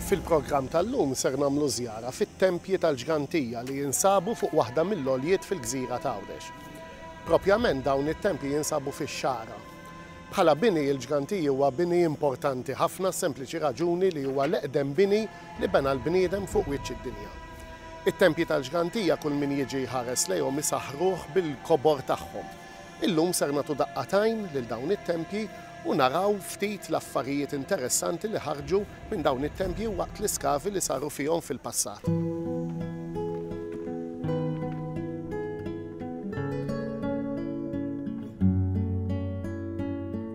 Fil-programm tal-lum ser nagħmlu żjara fit-tempji tal-Ġgantija li jinsabu fuq waħda mill-għoljiet fil-gżira t'Għawdex. Propjament dawn it-tempji jinsabu fix-Xagħra. Bħala bini il-Ġgantiji huwa bini importanti ħafna għas-sempliċi raġuni li huwa l-eqdem bini li bena l-bniedem fuq wiċċ id-dinja. It-tempji tal-ġgantija kull min jiġi jħares lejhom isaħħruh bil-kobor tagħhom. Illum ser nagħtu daqqa t'għajn lil dawn it-tempji u naraw ftit l-affarijiet interessanti li ħarġu minn dawn it-tempji waqt l-iskavi li saru fihom fil-passat.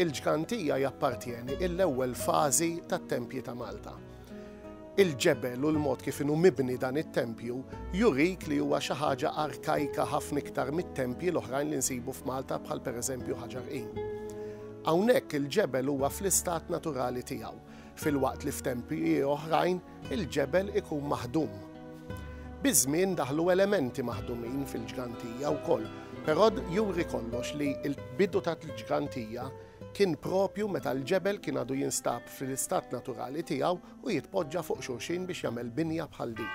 Il-ġgant hija jappartjeni il-ewwel fażi tat-tempji ta' Malta. Il-ġebel u l-mod kif inhu mibni dan it-tempju jurik li huwa xi ħaġa arkajka ħafna iktar mit-tempji l-oħrajn li nsibu f'Malta bħal pereżempju Ħaġar Qim. Hawnhekk il-ġebel huwa fl-istat naturali tiegħu, filwaqt li f'tempji oħrajn il-ġebel ikun maħdum. Biż-żmien daħlu elementi maħdumin fil-ġgantija wkoll, però juri kollox li l-bidu tal-ġgantija kien proprju meta l-ġebel kien għadu jinstab fl-istat naturali tiegħu u jitpoġġa fuq xulxin biex jagħmel binja bħal din.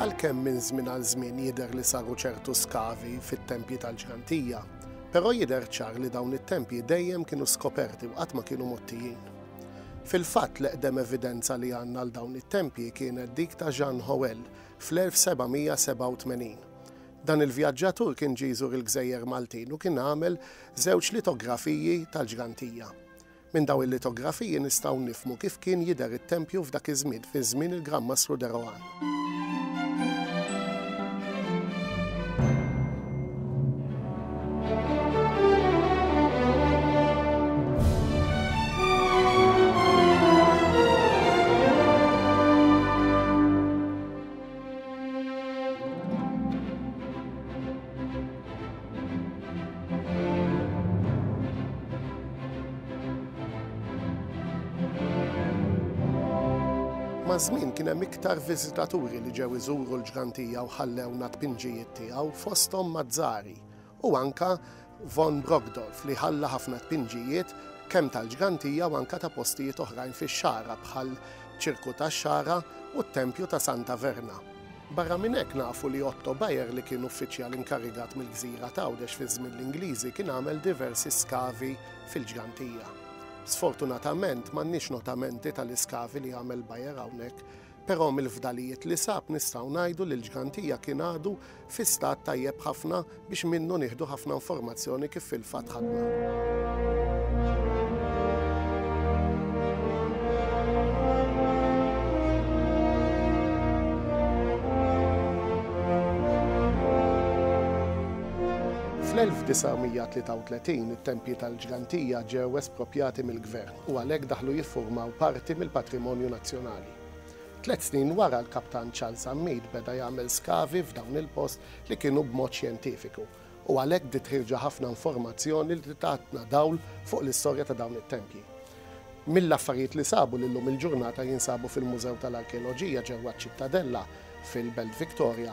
Għalkemm minn żmien għal żmien jidher li saru ċertu skavi fit-tempji tal-ġgantija, però jidher ċar li dawn it-tempji dejjem kienu skoperti u qatt ma kienu mottijin. Fil-fatt l-eqdem evidenza li għandna għal dawn it-tempji kienet dik ta' Jean Howell fl-1787. Dan il-vjaġġatur kien ġie jżur il-gżejjer Maltin u kien għamel żewġ litografiji tal-ġgantija. Minn dawn il-litografiji nistgħu nifhmu kif kien jidher it-tempju f'dak iż-żmien, fi żmien il-Gran Mastru de Rohan. Maż-żmien kien hemm iktar viżitaturi li ġew iżuru l-ġgantija u ħallewna tpinġijiet tiegħu fosthom Mazzari u anke Von Brockdorff li ħalla ħafna tpinġijiet kemm tal-ġgantija u anke ta' postijiet oħrajn fix-Xagħra bħal Ċirku tax-Xagħra u t-Tempju ta' Santa Verna. Barra minn hekk nafu li Otto Bayer li kien uffiċjal inkarigat mill-gżira t'Għawdex fi żmien l-Ingliżi kien għamel diversi skavi fil-ġgantija. Sfortunatament m'għandniex notamenti tal-iskavi li għamel Bayer hawnhekk Però mill-fdalijiet li sab nistgħu ngħidu li l-ġgantija kien għadu fi stat tajjeb ħafna biex minnu nieħdu ħafna informazzjoni kif fil-fatt ħadna. Fl-1933 it-tempji tal-ġgantija ġew esproprjati mill-Gvern. u għalhekk daħlu jiffurmaw parti mill-patrimonju nazzjonali. Tliet snin wara l-Kaptan Charles Ammid beda jagħmel skavi f'dawn il-post li kienu b'mod xjentifiku u għalhekk bdiet ħirġa ħafna informazzjoni li tatna dawl fuq l-istorja ta' dawn it-tempji. Mill-affarijiet li sabu li llum il-ġurnata jinsabu fil-Mużew tal-Arkeoloġija ġewwa ċ-Ċittadella fil-Belt Victoria,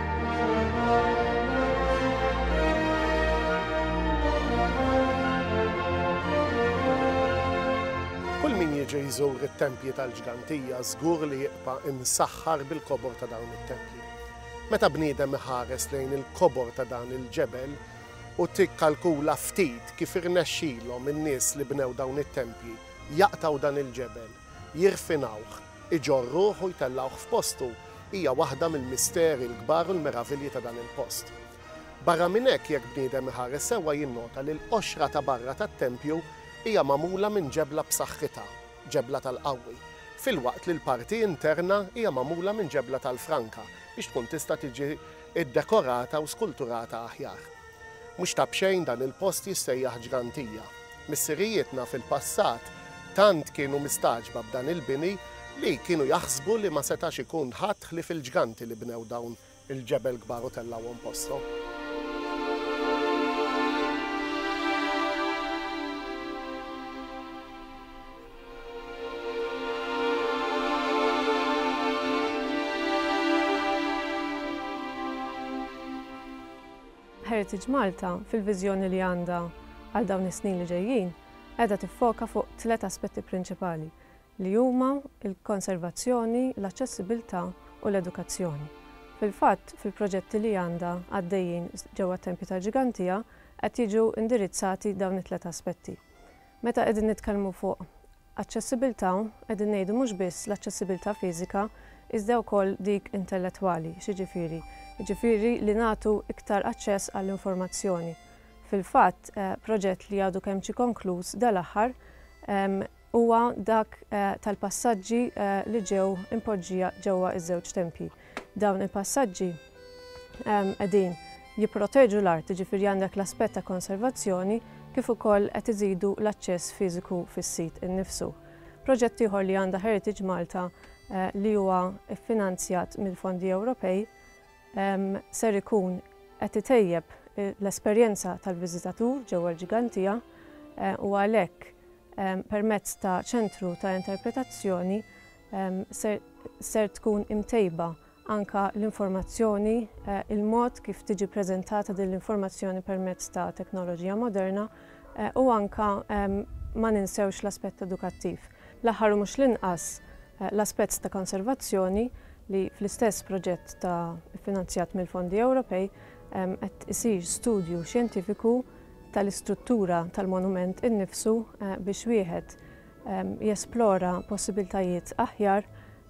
Kull min jiġi jżur it-tempji tal-ġgantija żgur li jibqa' imsaħħar bil-kobor ta' dawn it-tempji. Meta bniedem iħares lejn il-kobor ta' dan il-ġebel u tikkalkula ftit kif irnexxilhom in-nies li bnew dawn it-tempji jaqtgħu dan il-ġebel, jirfinawh, iġorruh u jtellgħuh f'postu, hija waħda mill-misteri l-kbar u l-meravilji ta' dan il-post. Barra minn hekk, jekk bniedem iħares sewwa jinnota li l-qoxra ta' barra tat-tempju hija magħmula minn ġebla b'saħħitha, ġebla tal-qawwi, filwaqt li l-parti interna hija magħmula minn ġebla tal-franka biex tkun tista' tiġi ddekorata u skulturata aħjar. Mhux ta' b'xejn dan il-post jissejjaħ Ġgantija. Missirijietna fil-passat tant kienu mistagħġba b'dan il-bini li kienu jaħsbu li ma setax ikun ħadd ħlief il-ġganti li bnew dawn il-ġebel kbar u tellgħuhom posthom. Heritage Malta, fil-viżjoni li għandha għal dawn is-snin li ġejjin, qiegħda tiffoka fuq tliet aspetti prinċipali, li huma l-konservazzjoni, l-aċċessibilità u l-edukazzjoni. Fil-fatt, fil-proġetti li għandha għaddejjin ġewwa t-Tempju tal-Ġigantija qed jiġu indirizzati dawn it-tliet aspetti. Meta qegħdin nitkellmu fuq aċċessibilità qegħdin ngħidu mhux biss l-aċċessibilità fiżika iżda wkoll dik intellettwali. X'jiġifieri? Jiġifieri li nagħtu iktar aċċess għall-informazzjoni. Fil-fatt, proġett li għadu kemm ġie konkluż dal-aħħar huwa dak tal-passaġġi li ġew impoġġija ġewwa ż-żewġ tempji. Dawn il-passaġġi qegħdin jipproteġu l-art, jiġifieri għandek l-aspett ta' konservazzjoni kif ukoll qed iżidu l-aċċess fiżiku fis-sit innifsu. Proġett ieħor li għandha Heritage Malta li huwa ffinanzjat mill-fondi Ewropej ser ikun qed itejjeb l-esperjenza tal-viżitatur ġewwa l-Ġigantija u għalhekk permezz ta' ċentru ta' interpretazzjoni ser tkun imtejba anke l-informazzjoni, il-mod kif tiġi ppreżentata din l-informazzjoni permezz ta' teknoloġija moderna u anke ma ninsewx l-aspett edukattiv. L-aħħar u mhux l-inqas, l-aspett ta' konservazzjoni li fl-istess proġett ta' iffinanzjat mill-fondi Ewropej qed isir studju xjentifiku tal-istruttura tal-monument innifsu biex wieħed jesplora possibbiltajiet aħjar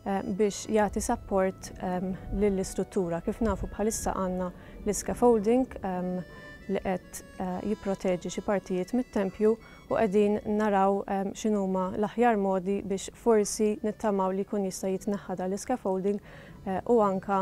biex jagħti sapport lill-istruttura. Kif nafu bħalissa għandna l-iscaffolding li qed jipproteġi xi partijiet mit-tempju u qegħdin naraw x'inhuma l-aħjar modi biex forsi nittamaw li jkun jista' jitneħħa dan l-iscaffolding u anke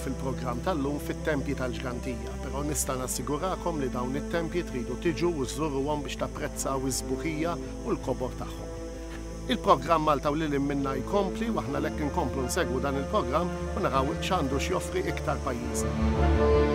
fil-programm tal-lum fit-tempji tal-Ġgantija, però nista' nassigurakom li dawn it-tempji tridu tiġu u żżuruhom biex tapprezzaw is-sbuħija u l-kobor tagħhom. Il-programm Malta u Lil Hinn Minnha jkompli u aħna għalhekk inkomplu nsegwu dan il-programm u naraw x'għandu x'joffri iktar pajjiżna.